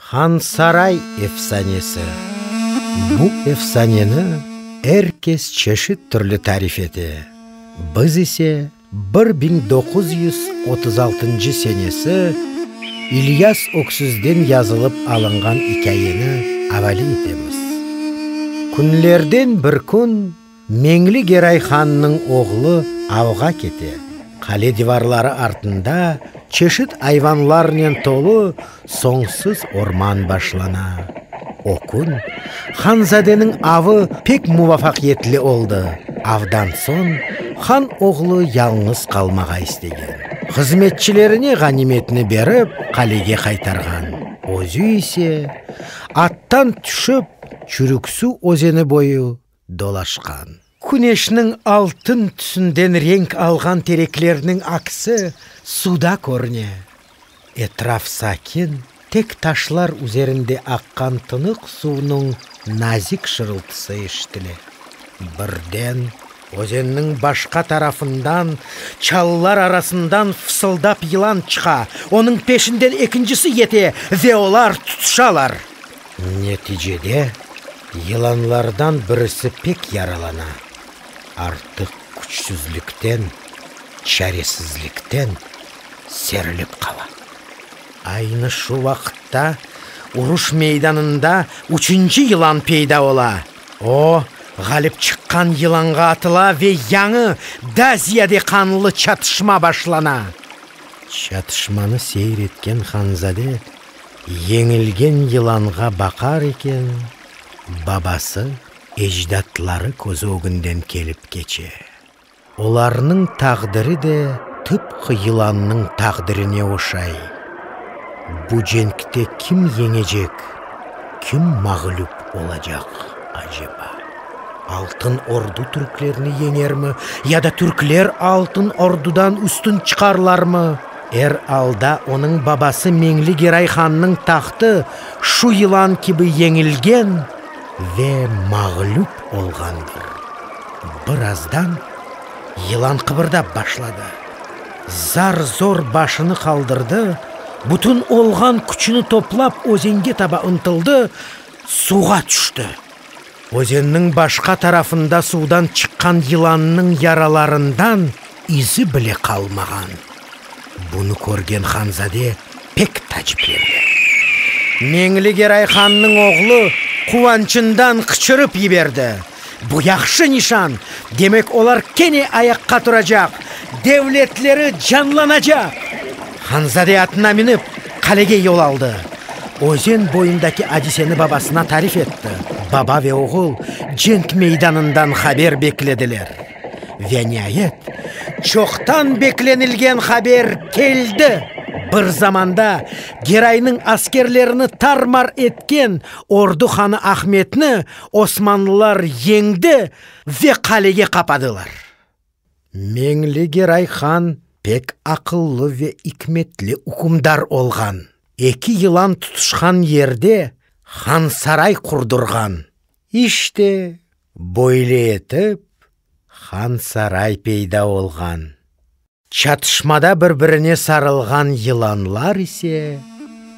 Hansaray efsanesi. Bu efsaneni er kes çeşit türlü tarif ete. Biz ise bir biñ doquz yüz otuz altıncı senesi İlyas Öksüzden yazılıp alınğan ikâyeni avale etemiz. Künlerden bir kün Meñli Geray hannıñ oğlu avğa kete. Qale divarları artında çeşit ayvanlarnen tolu soñsuz orman başlana. O kün hanzadeniñ avı pek muvafaqiyetli oldı. Avdan soñ han oğlu yalñız qalmağa istegen. Hızmetçilerine ğanimetni berip, qalege qaytarğan. Özü ise, attan tüşip, Çürüksuv özeni boyu, dolaşqan. Küneşniñ altın tüsünden renk alğan tereklerniñ aksi suda körüne. Etraf sakin, tek taşlar üzerinde aqqan tınıq suvnıñ nazik şırıltısı eşitile. Birden özenniñ başqa tarafından, çalılar arasından fısıldap yılan çıqa, onıñ peşinden ekincisi yete ve olar tutuşalar. Neticede, yılanlardan birisi pek yaralana, artıq küçsüzlikten, çaresizlikten serilip qala. Aynı şu vaqıtta uruş meydanında üçünci yılan peyda ola. O, ğalip çıqqan yılanğa atıla ve yañı, da ziyade qanlı çatışma başlana. Çatışmanı seyir etken hanzade Yeñilgen yılanğa baqar eken, babası, ecdatları közü ögünden kelip keçe. Olarnıñ taqdiri de tıpqı yılannıñ taqdirine oşay. Bu cenkte kim yeñecek, kim mağlüp olacaq aceba? Altın Ordu türklerni yeñermi ya da türkler Altın Ordudan üstün çıqarlarmı? Er alda onıñ babası Meñli Geray hannıñ tahtı şu yılan kibi yeñilgen ve mağlüp olğandır. Birazdan yılan qıbırdap başladı. Zar-zor başını qaldırdı, bütün olğan küçüni toplap özenge taba ıntıldı, suğa tüşti. Özenniñ başqa tarafında suvdan çıqqan yılannıñ yaralarından izi bile qalmağan. Bunı körgen hanzade pek taciplendi. Meñli Geray hannıñ oğlu quvançından qıçırıp yiberdi, Bu yahşı nişan! Demek, olar kene ayaqqa turacaq, devletleri canlanacaq! Hanzade atına minip, qalege yol aldı. Özen boyundaki adiseni babasına tarif etti. Baba ve oğul cenk meydanından haber beklediler. Ve niayet, çoqtan beklenilgen haber keldi! Bir zamanda Geraynıñ askerlerini tar-mar etken ordu hanı Ahmetni osmanlılar yeñdi ve qalege qapadılar. Meñli Geray han pek aqıllı ve ikmetli ükümdar olğan. Eki yılan tutuşqan yerde hansaray qurdurğan. İşte, böyle etip, hansaray peyda olğan. Çatışmada bir-birine sarılğan yılanlar ise.